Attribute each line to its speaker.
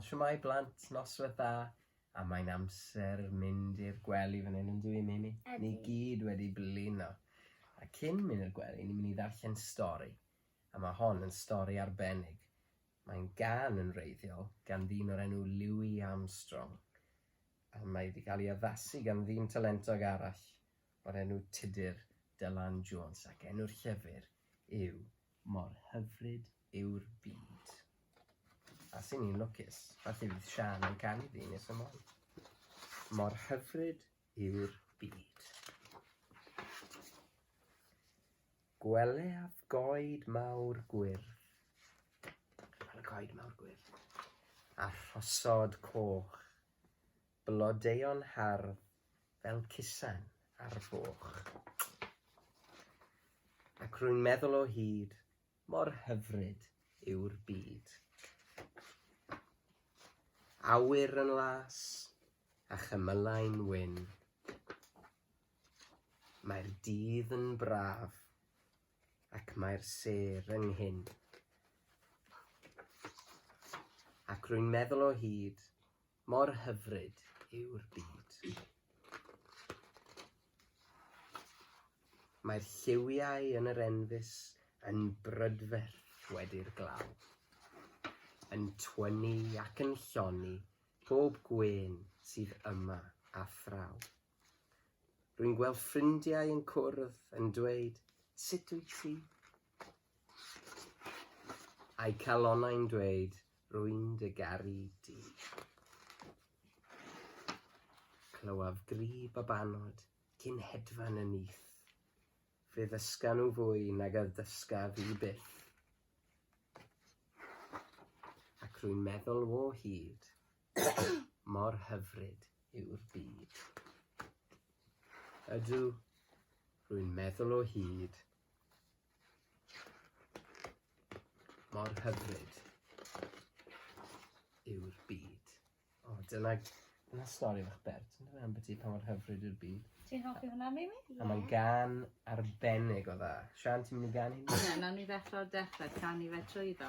Speaker 1: Wel, siwmai blant, noswaith dda, a mae'n amser mynd i'r gwely fan hyn yn dwi, Mimi? Ni gyd wedi blino. A cyn mynd i'r gwely, ni'n mynd i ddarllen stori. A mae hon yn stori arbennig. Mae'n gân yn wreiddiol gan ddyn o'r enw Louis Armstrong, a mae wedi cael ei addasu gan ddyn talentog arall o'r enw Tudur Dylan Jones, ac enw'r llyfr yw Mor Hyfryd Yw'r Byd. A sy'n un lwcus, felly fydd Sian yn canu fi nes ymlaen. Mor hyfryd yw'r byd. Gwelaf goed mawr gwyrdd. Gwelaf goed mawr gwyrdd. A rhosod coch. Blodeuon hardd fel cusan ar foch. Ac rwy'n meddwl o hyd, mor hyfryd yw'r byd. Awyr yn las a chymylau'n wyn. Mae'r dydd yn braf ac mae'r sêr ynghyn. Ac rwy'n meddwl o hyd, mor hyfryd yw'r byd. Mae'r lliwiau yn yr enfys yn brydferth wedi'r glaw, yn twyni ac yn lloni bob gwên sydd yma a thraw. Rwy'n gweld ffrindiau yn cwrdd yn dweud, sut wyt ti? A'i calonnau'n dweud, rwy'n dy garu di. Clywaf gri babanod cyn hedfan y nyth. Fe ddysga nhw fwy nag a ddysga fi byth. Ac rwy'n meddwl o hyd, Mor hyfryd yw'r byd. Ydw, rwy'n meddwl o hyd. Mor hyfryd yw'r byd. O, dyna, dyna stori fach bert, yn dweud ambiti pa mor hyfryd yw'r byd. Ti'n hoffi hwnna, Mimi? Yeah. A mae'n gan arbennig o dda. Sian, ti'n mynd i gan i ni? Na, nawn ni ddechrau o'r dechrau, can i fe trwy iddo.